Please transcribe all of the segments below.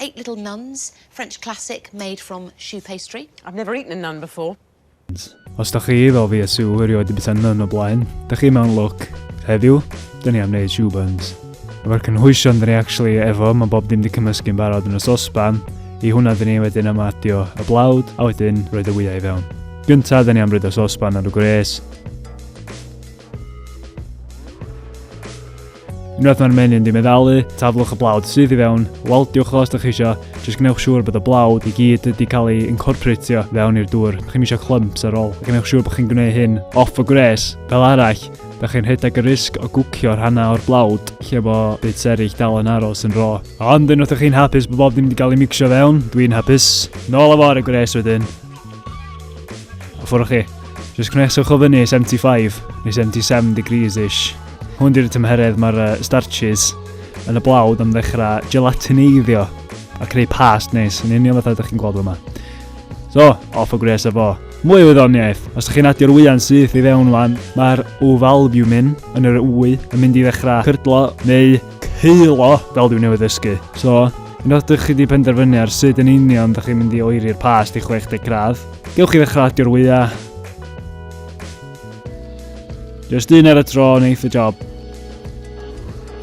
Eight Little Nuns, French classic made from choux pastry. I've never eaten a nun before. Os da chi fel fi a Sue erioed wedi bita nun o blaen, da chi mewn look. Heddiw, da ni am wneud shoe buns. Efo'r cynhwysion da ni actually efo, mae bob dim di cymysgu'n barod yn y sosban, i hwnna da ni wedyn am adio y blawd, a wedyn roed y wyau i fewn. Gynta, da ni am rydo sosban ar y gwres. Unwaith mae'r menyn di meddalu, taflwch y blawd sydd i fewn, waldiwch o os da chi isio, jyst gwnewch siŵr bod y blawd i gyd wedi cael ei incorporatio fewn i'r dŵr, da chi'n eisiau clymps ar ôl, gwnewch siŵr bod chi'n gwneud hyn off y gwres, fel arall, Da chi'n rhedeg y risg o gwcio rhannau o'r blawd lle bo byd serig dal yn aros yn ro. Ond unwaith ydych chi'n hapus bod bob dim wedi cael ei mixio fewn, dwi'n hapus. Nôl a fo ar y gwres wedyn. Ffwrwch chi. Just cwneswch o fyny 75 neu 77 degrees-ish. Hwn di'r tymheredd mae'r uh, starches yn y blawd am ddechrau gelatineiddio a creu past neis, yn union fatha ydych chi'n gweld yma. So, off o gwres efo. Mwy o wyddoniaeth, os ydych chi'n adio'r wyau'n syth i fewn wan, mae'r ŵf albumin yn yr wy yn mynd i ddechrau cydlo neu Ceulo, fel dwi newydd ddysgu. So, unwaith dych chi wedi penderfynu ar sut yn union dych chi'n mynd i oeri'r past i 60 gradd, gewch chi ddechrau adio'r wyau. Just un ar y tro yn eith y job.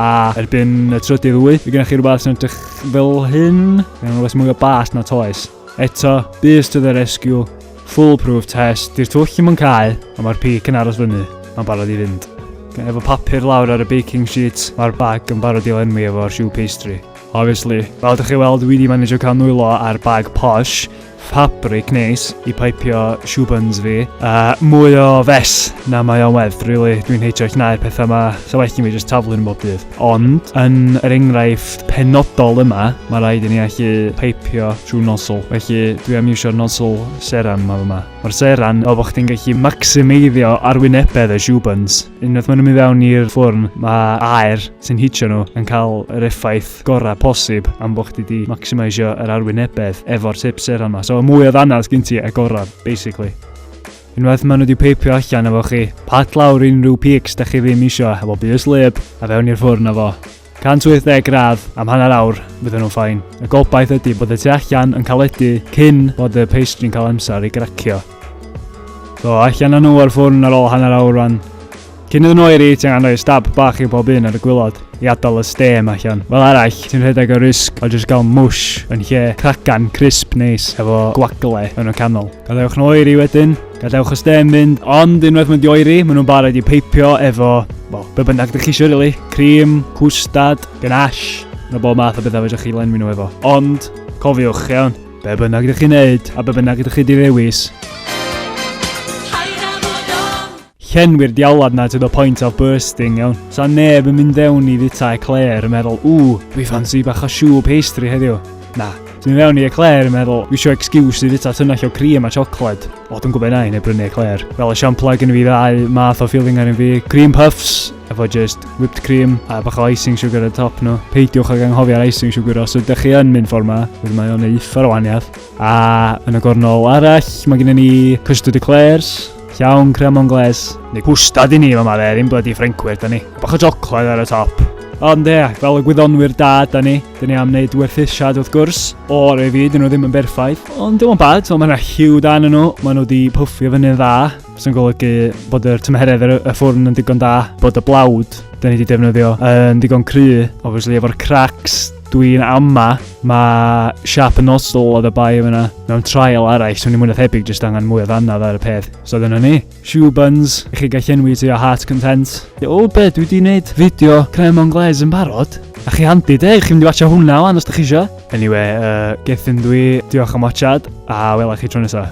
A erbyn y trydydd wy, y gennych chi rhywbeth sy'n edrych fel hyn. Mae'n rhywbeth mwy o bast na toes. Eto, bys to the rescue, fool proof test, di'r twll ddim yn cau, ond mae'r pic yn aros fyny, mae'n barod i fynd. Efo papur lawr ar y baking sheet, mae'r bag yn barod i lenwi efo'r shoe pastry. Obviously. Fel ydych chi weld, wedi managio cael nwylo ar bag posh, fabric neis i paipio shoe buns fi. A mwy o fes na mae o'n werth, really. Dwi'n heitio llnau'r pethau yma, so well i mi just taflu'n bob dydd. Ond, yn yr enghraifft penodol yma, mae rhaid i ni allu paipio trwy nozzle, felly dwi am iwsio'r nozzle seran yma fyma. Mae'r seran fel bod chdi'n gallu maximideio arwynebedd y shoe buns. Unwaith maen nhw'n mynd fewn i'r ffwrn, mae aer sy'n hitio nhw yn cael yr effaith gorau posib am bod chdi wedi maximisio yr arwynebedd efo'r tip seran yma. So y mwy o ddannedd sgyn ti, y gorau, basically. Unwaith maen nhw wedi peipio allan efo chi, pat lawr unrhyw peaks da chi ddim isio efo bys lib a fewn i'r ffwrn efo. 180 gradd am hanner awr, fydden nhw'n ffain. Y gobaith ydy bod y tu allan yn caledu cyn bod y pastry'n cael amser i gracio. So, allan â nhw o'r ffwrn ar ôl hanner awr rwan. Cyn iddyn nhw oeri, ti'n angen rhoi stab bach i bob un ar y gwylod i adael y stêm allan. Fel arall, ti'n rhedeg y risg o jyst gael mwsh yn lle cracan crisp neis efo gwagle yn y canol. Gadewch nhw oeri wedyn, gadewch y stêm fynd, ond unwaith mynd i oeri, maen nhw'n barod i peipio efo, wel, be bynnag dych chi eisiau rili, really. cream, cwstad, ganache, na bob math o bethau fedrwch chi lenwi nhw efo. Ond, cofiwch, iawn, be bynnag ydych chi'n neud a be bynnag ydych chi di ddewis, Llenwi'r diawlad 'na to the point of bursting, iawn. Sa neb yn mynd fewn i fita eclair yn meddwl, Ww, dwi ffansi bach o siw pastry heddiw. Na, ti'n mynd fewn i eclair yn meddwl, dwi isio excuse i fita tynnell o cream a siocled. O, dwi'n gwybod na i neu brynu eclair. Fel esiamplau gen i fi ddau math o feeling ar un fi. Cream puffs, efo just whipped cream a bach o icing sugar ar y top nhw. Peidiwch ag anghofio'r icing sugar os ydych chi yn mynd ffordd yma, wedyn mae o'n eitha o waniath. A yn y gornol arall, mae gennym ni custard eclairs, Llawn cremon gles, neu pwstad i ni fama dde, ddim blydi Ffrancwyr da ni. Bach o jocled ar y top. Ond ie, fel y gwyddonwyr da da ni, da ni am wneud werthusiad wrth gwrs, o'r ei fyd, nhw ddim yn berffaith. Ond dim ond bad, mae yna hiw da yn nhw, mae nhw wedi pwffio fyny'n dda, sy'n golygu bod yr tymheredd ar y ffwrn yn digon da, bod y blawd da ni wedi defnyddio yn digon cry, obviously efo'r cracks Dwi'n ama, mae Sharp and Nozzle oedd y bai yma mewn trial arall, swn i'n mwyn a thebyg jyst angen mwy o ddannedd ar y peth. So dyna ni. Shoe buns, i chi gael llenwi ti o heart content. O be, dwi wedi gwneud fideo creme anglaise yn barod. A chi handi de, chi'n mynd i watcha hwnna wan os da chi isio. Anyway, uh, gethyn dwi, diolch am watchad, a wela chi tro nesaf.